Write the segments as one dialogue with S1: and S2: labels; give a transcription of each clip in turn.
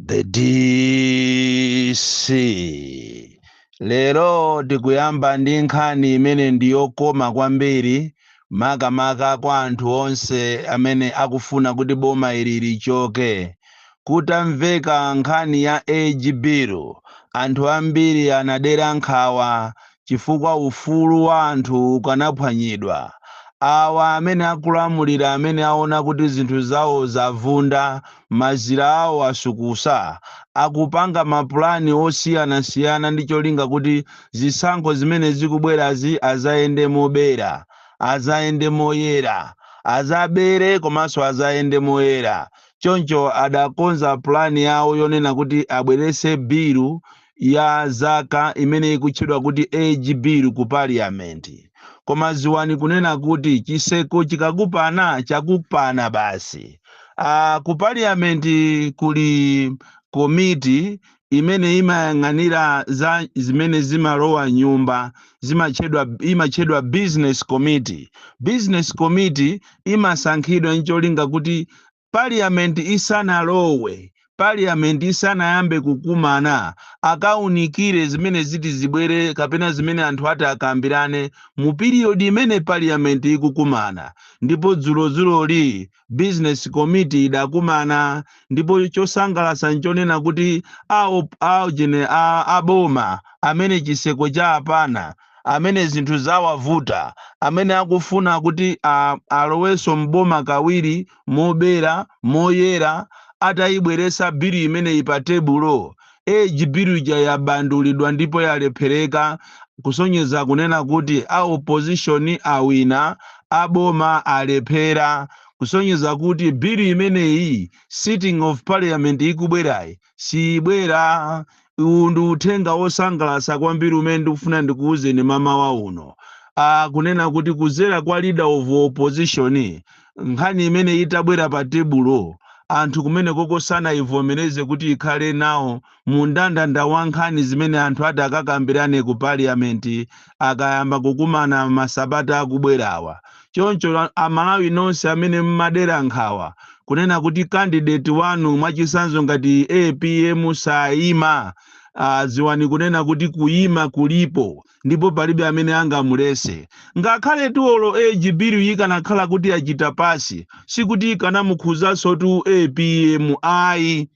S1: the dc lero tikuyamba ndi nkhani imene ndi yokoma kwambiri makamaka kwa anthu onse amene akufuna kuti boma ili lichoke kutamveka nkhani ya age bill anthu ambiri anadera nkhawa chifukwa ufulu wa anthu ukanaphwanyidwa. Awa amene akulamulira amene aona kuti zinthu zawo zavunda, mazira awo asukusa, akupanga mapulani osiyanasiyana ndi cholinga kuti zisankho zimene zikubwerazi azayende mobera, azayende moyera, azabere komanso azayende moyera choncho adakonza pulani yawo yonena kuti abweretse bilu ya zaka imene ikutchedwa kuti age bill ku parliament koma dziwani kunena kuti chiseko chikakupana chakupana basi ah, ku parliament kuli komiti imene imayang'anira za zimene zimalowa m'nyumba zimatchedwa imatchedwa business committee business committee imasankhidwa ncholinga kuti Parliament isanalowe, Parliament isanayambe kukumana, akaunikire zimene ziti zibwere kapena zimene anthu ati akambirane mu period imene Parliament ikukumana. Ndipo dzulodzuloli Business Committee idakumana ndipo chosangalatsa n'chonena kuti a op, a ujeni, a a boma amene chiseko chawapana, amene zinthu zawavuta, amene akufuna kuti a, alowenso m'boma kawiri, mobera, moyera, ataibweretsa bill imeneyi pa tebulo, age bill ija yabandulidwa ndipo yalephereka, kusonyeza kunena kuti a opposition awina, a boma alephera, kusonyeza kuti bill imeneyi sitting of parliament ikubwerayi, siibwera uwu ndi uthenga wosangalatsa kwambiri umene ndikufuna ndikuwuzeni mamawa uno ah, kunena kuti kuzera kwa leader of opposition nkhani imene itabwera pa tebulo anthu kumene koko sanaivomereze kuti ikhale nawo mu ndandanda wa nkhani zimene anthu ati akakambirane ku parliament akayamba kukumana masabata akubwerawa. Choncho a Malawi nonse amene mmadera nkhawa kunena kuti candidate wanu mwachitsanzo ngati apm sayima, ah, dziwani kunena kuti kuyima kulipo ndipo palibe amene angamuletse. Ngakhaletu olo age bill ikanakhala kuti yachita pass, sikuti ikanamukhudzansotu apm ayi.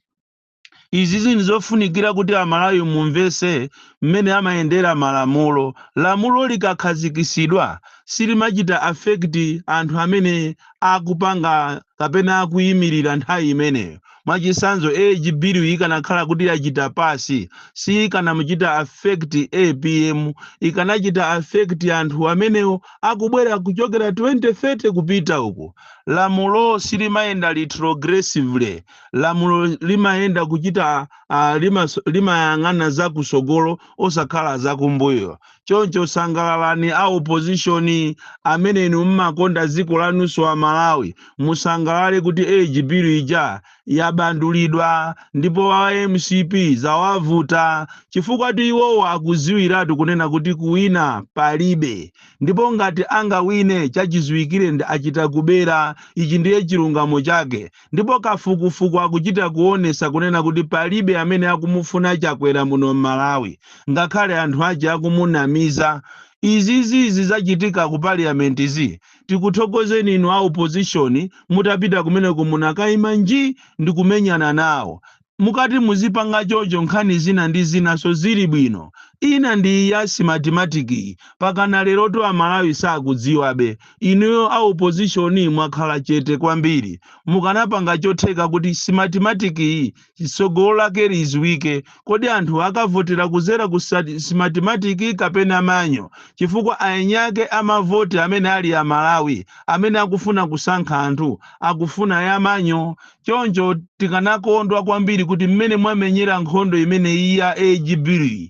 S1: izizi ndizofunikira kuti amalawi mumvese mmene amayendera malamulo lamulo likakhazikisidwa silimachita affect anthu amene akupanga kapena akuyimirira nthawi imeneyo mwachisanzo age bill ikanakhala kuti yachita pass siikanamuchita affect apm ikanachita affect anthu amenewo akubwera kuchokera 2030 kupita uku lamulo silimayenda retrogressively lamulo limayenda kuchita uh, limas, limayang'ana za kusogolo osakhala za kumbuyo choncho sangalalani a opposition amene inu mmakonda dziko lanunso a malawi musangalale kuti age bill ija yabandulidwa ndipo a mcp zawavuta chifukwatu iwowo akudziwiratu kunena kuti kuwina palibe ndipo ngati angawine chachidziwikire achita kubera ichi ndiye chilungamo chake Ndipo kafukufuku akuchita kuonesa kunena kuti palibe amene akumufuna chakwera muno mmalawi ngakhale anthu ache akumunamiza izizi izi zachitika ku parliamentzi tikuthokozeni inu a opposition mutapita kumeneko munakaima njii ndikumenyana nawo mukati muzipanga chocho nkhani zina ndi zinaso zili bwino ina ndi iyi ya Smartmatic yi mpakana lerotu amalawi sakudziwabe inuyo a opposition mwakhala chete kwambiri mukanapanga chotheka kuti Smartmatic yi tsogolo lake liziwike kodi anthu akavotera kuzera ku sati- Smartmatic kapena manual chifukwa eni ake amavoti amene ali amalawi amene akufuna kusankha anthu akufuna ya manual Choncho tikanakondwa kwambiri kuti mmene mwamenyera nkhondo imeneyi ya age bill yi,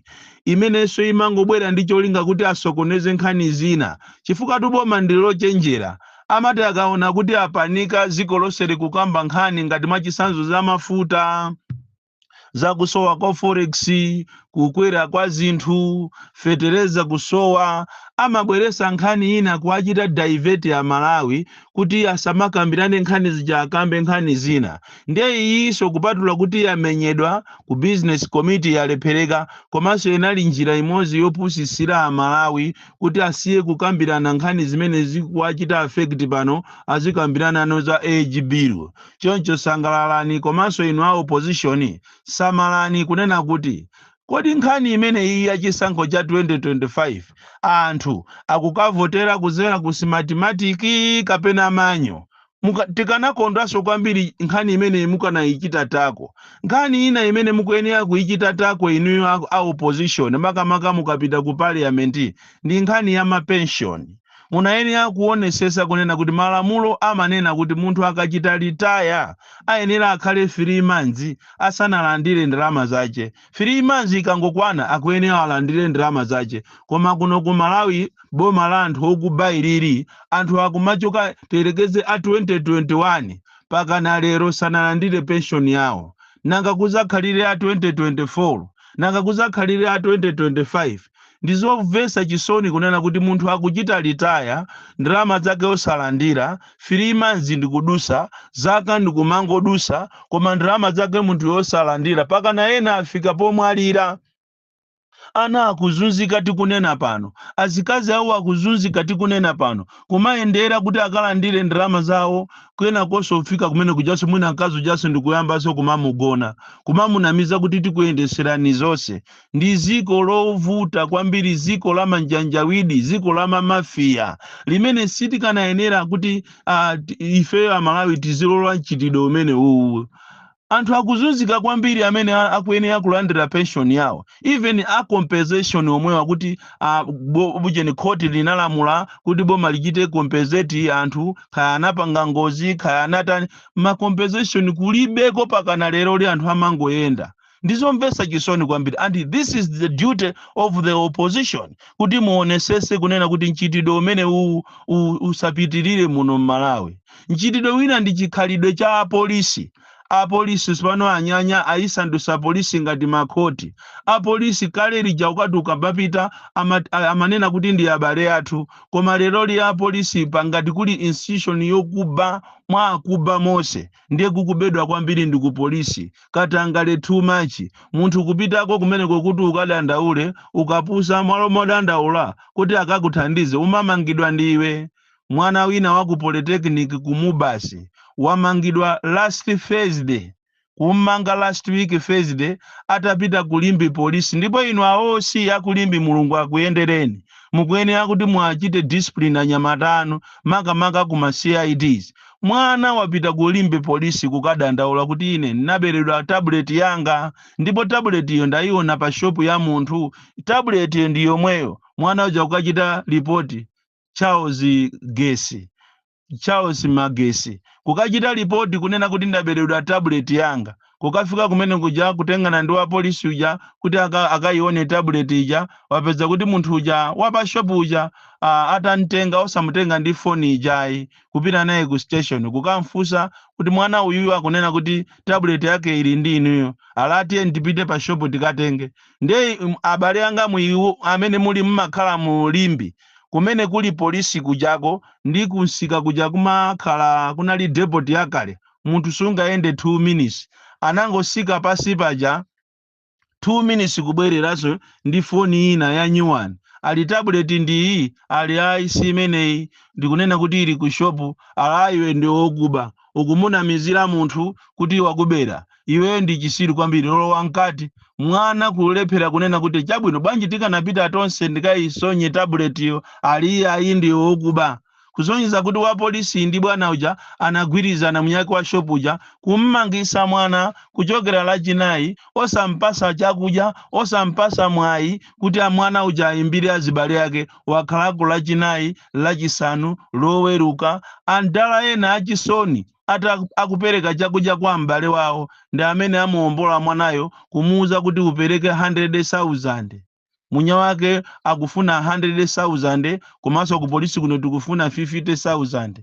S1: imenenso imangobwera ndi cholinga kuti asokoneze nkhani zina, chifukwatu boma ndi lochenjera, amati akaona kuti apanika dziko lonse likukamba nkhani ngati mwachitsanzo za mafuta, zakusowa kwa forex kukwera kwa zinthu fetereza kusowa amabweresa nkhani ina kuachita divert amalawi kuti asamakambirane nkhani zija akambe nkhani zina ndiye iyiso kupatula kuti yamenyedwa ku business committee yalephereka komanso inali njira imodzi yopusisira amalawi kuti asiye kukambirana nkhani zimene zikuwachita affect pano azikambiranano za age bill Choncho sangalalani komanso inu a opposition samalani kunena kuti Kodi nkhani imeneyiyi ya chisankho cha 2025 anthu akukavotera kudzera ku Smartmatic kapena manual? Muka, tikanakondwanso kwambiri nkhani imeneyi mukanayichita tackle. Nkhani ina imene mukuyenera kuyichita tackle inuyo a, a opposition makamaka mukapita ku parliament ndi nkhani ya ma pension. Munayenera kuonesesa kunena kuti malamulo amanena kuti munthu akachita retire ayenera akhale 3 months asanalandire ndalama zake, 3 months ikangokwana akuyenera alandire ndalama zake koma kuno ku Malawi boma la anthu okuba ilili anthu akumachoka tiyerekeze a 2021 pakana lero sanalandire pension yawo nanga kuzakhalire a 2024 nanga kuzakhalire a 2025? Ndizomvesa chisoni kunena kuti munthu akuchita retire ndalama zake osalandira, 3 months ndikudusa, zaka ndikumangodusa koma ndalama zake munthuyo osalandira pakana ena afika pomwalira. Ana akuzunzika tikunena pano, azikazi awo akuzunzika tikunena pano, kumayendera kuti akalandire ndalama zawo kenakonso kufika kumene kujaso mwina mkazi ujaso ndikuyambaso kumamugona, kumamunamiza kuti tikuyendeserani zonse Ndi ziko lovuta kwambiri, ziko la manjanjawidi, ziko la mamafiya, limene sitikanayenera kuti ah, ti- ifeyo Amalawi tizilola mchitidwe umene uwu. Anthu akuzunzika kwambiri amene a- akuyenera kulandira pension yawo, even a compensation omwewa kuti ah, bo- bujeni khoti linalamula kuti boma lichite compensate anthu kaya anapanga ngozi kaya anatani, ma compensation kulibeko pakana leroli anthu amangoyenda. ndizomvesa chisoni kwambiri and this is the duty of the opposition kuti muonesese kunena kuti mchitidwe umene uwu u- usapitirire muno mmalawi mchitidwe wina ndi chikhalidwe cha apolisi apolisi tsopano anyanya ayisandusa polisi ngati makhoti apolisi kale lija ukati ukamapita ama, a- amanena kuti ndi abale athu koma leroli apolisi pa ngati kuli institution yokuba mwa akuba onse ndiye kukubedwa kwambiri ndi ku polisi katangale too much munthu kupitako kumeneko kuti ukadandaule ukapusa mwalo modandaula kuti akakuthandize umamangidwa ndiwe mwana wina wa ku polytechnic ku mubas wamangidwa last thursday kummanga last week thursday atapita ku limbe polisi ndipo inu a oc a ku limbe mulungu akuyendereni mukuyenera kuti muachite discipline anyamata anu makamaka ku ma cids Mwana wapita ku Limbe Police kukadandaula kuti ine naberedwa tabuleti yanga ndipo tabuletiyo ndaiona pa shopu ya munthu. Tabuletiyo ndi yomweyo mwana uja kukachita lipoti Charles Gesi, Charles Magesi, kukachita lipoti kunena kuti ndaberedwa tabuleti yanga. Kukafika kumene kuja kutengana ndi wapolisi uja kuti aka, akayione tablet ija wapeza kuti munthu uja wapa shop uja ah, atamtenga osamutenga ndi foni ijayi kupita naye ku station kukamfunsa kuti mwana uyuyu akunena kuti tablet yake ili ndi inuyo ali tiyeni tipite pa shop tikatenge ndiye mm, abale anga inu amene muli mmakhala mu Limbe kumene kuli polisi kujako ndi kunsika kuja kumakhala kunali depot yakale munthu sungayende 2 minutes anangosika pansi paja 2 minutes kubwereranso ndi foni ina ya new one ali tablet ndiyi ali ayi si imeneyi ndikunena kuti ili ku shopu ali iwe ndi wokuba ukumunamizira munthu kuti wakubera iweyo ndi chisiru kwambiri lowa mkati mwana kulephera kunena kuti chabwino bwanji tikanapita tonse ndikayisonye tabuletiyo ali ayi ndi wokuba kusonyeza kuti wapolisi ndi bwana uja anagwirizana mwiniyake wa shopu uja kum'mangitsa mwana kuchokera Lachinayi osam'patsa chakudya, osam'patsa mwayi kuti mwana uja aimbire azibale ake. Wakhalako Lachinayi, Lachisanu, Loweruka, am'dala ena achisoni ati akupereka chakudya kwa m'bale wawo ndi amene amuwombola mwanayo kumuuza kuti upereke 100,000. Mwini wake akufuna 100,000 komanso ku polisi kuno tikufuna 50,000.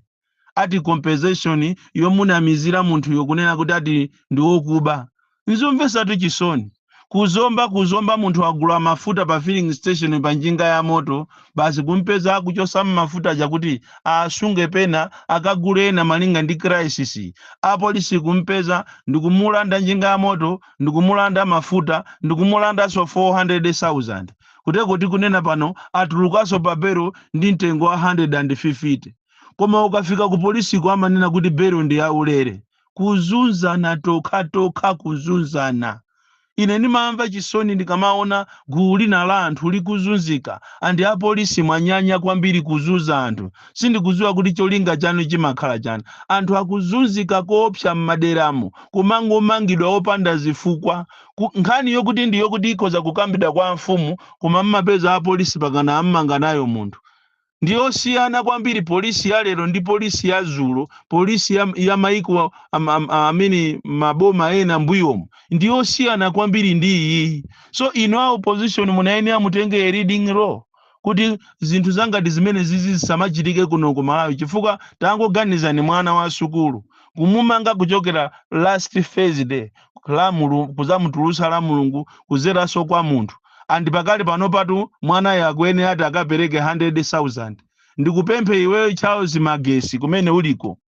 S1: Ati compensation yomunamizira munthu yokunena kuti ati ndi wokuba. N'zomvetsatu chisoni. Ku Zomba ku Zomba munthu wagula mafuta pa filling station pa njinga ya moto basi kumupeza akuchotsamo mafuta aja kuti asunge pena akagule ena malinga ndi crisis. Apolisi kumupeza ndikumulanda njinga ya moto ndikumulanda mafuta ndikumulandaso 400,000 kuteko tikunena pano atulukaso pa belo ndi mtengo wa 150 koma ukafika ku polisiko amanena kuti belo ndi yaulere kuzunzana tokhatokha kuzunzana ine ndimamva chisoni ndikamaona gulu lina la anthu likuzunzika and apolisi mwanyanya kwambiri kuzunza anthu sindikuziwa kuti cholinga chanu chimakhala chani anthu akuzunzika koopsa mmaderamu kumangomangidwa opanda zifukwa Ku- nkhani yokuti ndi yokuti ikhoza kukambidwa kwa amfumu koma mmapeza apolisi pakana ammanga nayo munthu ndiyosiyana kwambiri polisi ya lero ndi polisi ya zulo polisi ya, ya maiko am- am- amene maboma ena mbuyomu ndiyosiyana kwambiri ndi iyiyi so inu a opposition munayenera mutenge a leading role kuti zinthu zangati zimene zizi zisamachitike kuno ku malawi chifukwa tangoganizani mwana wa sukulu kumumanga kuchokera last thursday la Mulu- kuzamutulutsa la mulungu kuzeranso kwa munthu and pakali pano patu mwanayo akuyenera ati akapereke 100000 ndikupemphe iweyo charles magesi kumene uliko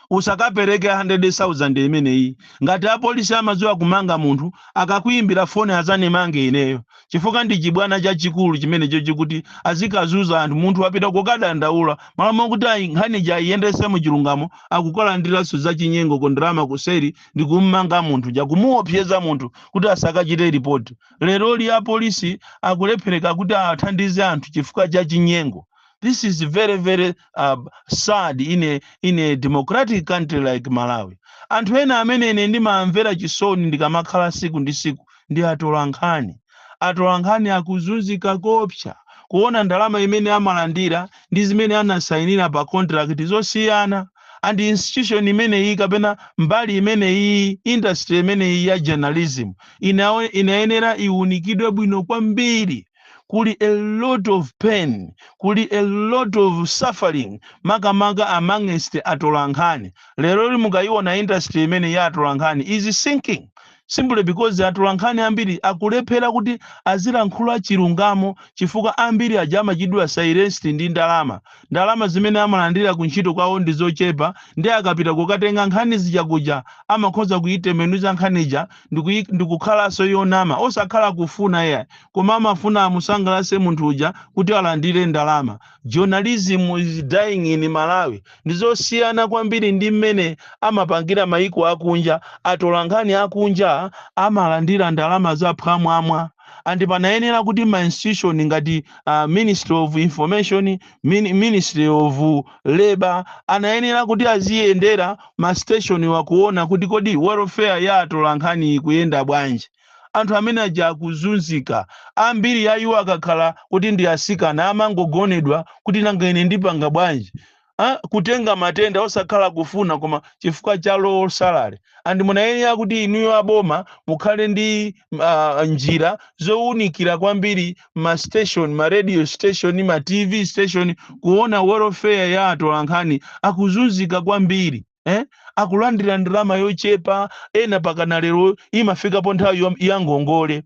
S1: usakapereke 100,000 imeneyi ngati apolisi amadziwa kumanga munthu akakuyimbira foni azanimange ineyo chifukwa ndi chibwana chachikulu chimenecho chikuti azikazuza anthu munthu wapita kukadandaula malo mokuti a nkhani ija ayiyendese mu chilungamo akukalandiranso zachinyengo ndalama kuseri ndi kummanga munthu ja kumuopseza munthu kuti asakachite ripoti leroli apolisi akulephereka kuti athandize anthu chifukwa cha chinyengo this is very very uh, sad in a, in a democratic country like malawi anthu ena amene ine ndimamvera chisoni ndikamakhala siku ndi siku ndi atolankhani atolankhani akuzunzika kopsa kuona ndalama imene amalandira ndi zimene anasayinira pa contract zosiyana and institution imeneyi kapena mbali imeneyi industry imene iyi ya journalism inawe- inayenera iwunikidwe bwino kwambiri kuli a lot of pain kuli a lot of suffering makamaka amongst atolankhani lero li mukayiona industry imene ya atolankhani is sinking simply because atolankhani ambiri akulephera kuti azilankhula chilungamo chifukwa ambiri aja amachitidwa silenced ndi ndalama ndalama zimene amalandira ku ntchito kwawo ndi zochepa nde akapita kukatenga nkhani zija kuja amakhoza kuyitembenuza nkhani ija ndikuyi- ndikukhalanso yonama osakhala kufuna iyayi koma amafuna amusangalatse munthu uja kuti alandire ndalama journalism is dying in malawi ndizosiyana kwambiri ndi mmene amapangira maiko akunja atolankhani akunja amalandira ndalama za phwamwamwa and panayenera kuti ma institution ngati uh, ministry of information min, ministry of labor anayenera kuti aziyendera masiteshoniwa kuona kuti kodi welfare ya atolankhani ikuyenda bwanji anthu amene aja akuzunzika ambiri a iwo akakhala kuti ndi asikana amangogonedwa kuti nanga ine ndipanga bwanji Ah, kutenga matenda osakhala kufuna koma chifukwa cha low salary and munayenera kuti inuyo aboma mukhale ndi uh, njira zowunikira kwambiri ma station ma radio station ma tv station kuona welfare ya atolankhani akuzunzika kwambiri eh? akulandira ndalama yochepa ena mpakana lero imafikapo nthawi yom- ya ngongole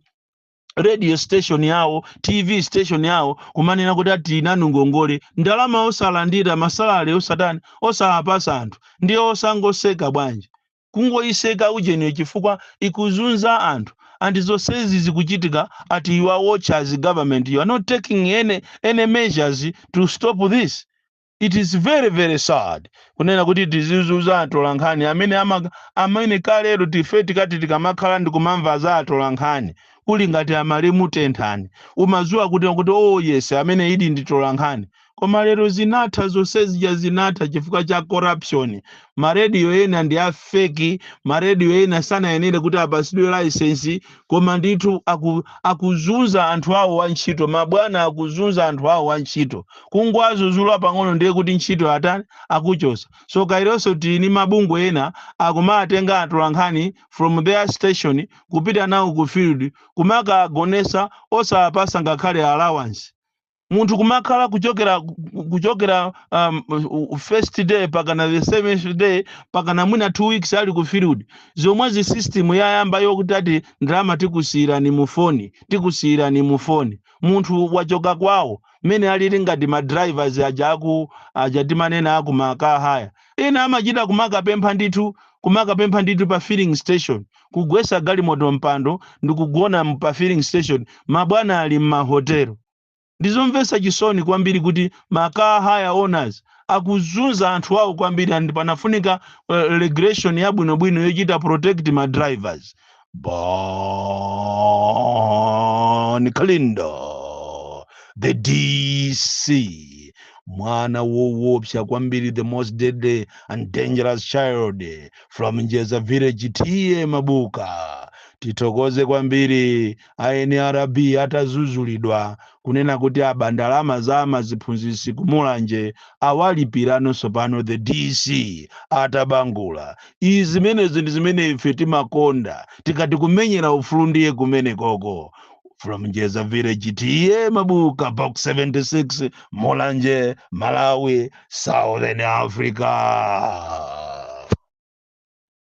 S1: radio station yawo tv station yawo kumanena kuti ati ili nanu ngongole ndalama osalandira masalale osatani osawapatsa anthu ndiye osangotseka bwanji kungoitseka ujeniyo chifukwa ikuzunza anthu and zonsezi zikuchitika at your watch as government you are not taking any, any measures to stop this it is very very sad kunena kuti tizizunza atolankhani amene ama, amene kalelo tife tikati tikamakhala ndikumamva za atolankhani kuli ngati a Malume Tenthani umadziwa kuti kuti oh yes amenedi ndi atolankhani koma lero zinatha zonse zija zinatha chifukwa cha corruption marediyo ena ndi a feki marediyo ena sanayenere kuti apasidwe layisensi koma ndithu aku, akuzunza anthu awo wa ntchito mabwana akuzunza anthu awo wa ntchito kungowazuzula pang'ono ndiye kuti ntchito atani akuchosa so kawirinso tili ni mabungwe ena akumatenga atolankhani from their station kupita nawo ku field kumakawagonesa osawapasa ngakhale allowance munthu kumakhala kuchokera kuchokera um, first day pakana the seventh day pakana mwina two weeks ali ku field zomwezi system yayamba yokuti ati ndalama tikusiyirani mu foni tikusiyirani mu foni munthu wachoka kwawo mmene alili ngati ma drivers aja aku aja timanena aku ma car hire Ena amachita kumakapempha ndithu kumakapempha ndithu pa filling station, kugwesa galimoto mpando ndikugona pa filling station mabwana ali m'mahotelo. Ndizomvesa chisoni kwambiri kuti ma car hire owners akuzunza anthu awo kwambiri and panafunika regulation yabwinobwino yochita protect ma drivers. Bon Kalindo, the DC, mwana woopsa kwambiri, the most deadly and dangerous child from Njeza village, T/A Mabuka. Tithokoze kwambiri NRB atazuzulidwa kunena kuti aba ndalama za maziphunzitsi ku Mulanje awalipirano tsopano the DC atabangula izi zimenezi ndi zimene ife timakonda tikati kumenyera ufulu ndiye kumene koko from Njeza Village T/A Mabuka box 76 Mulanje Malawi Southern Africa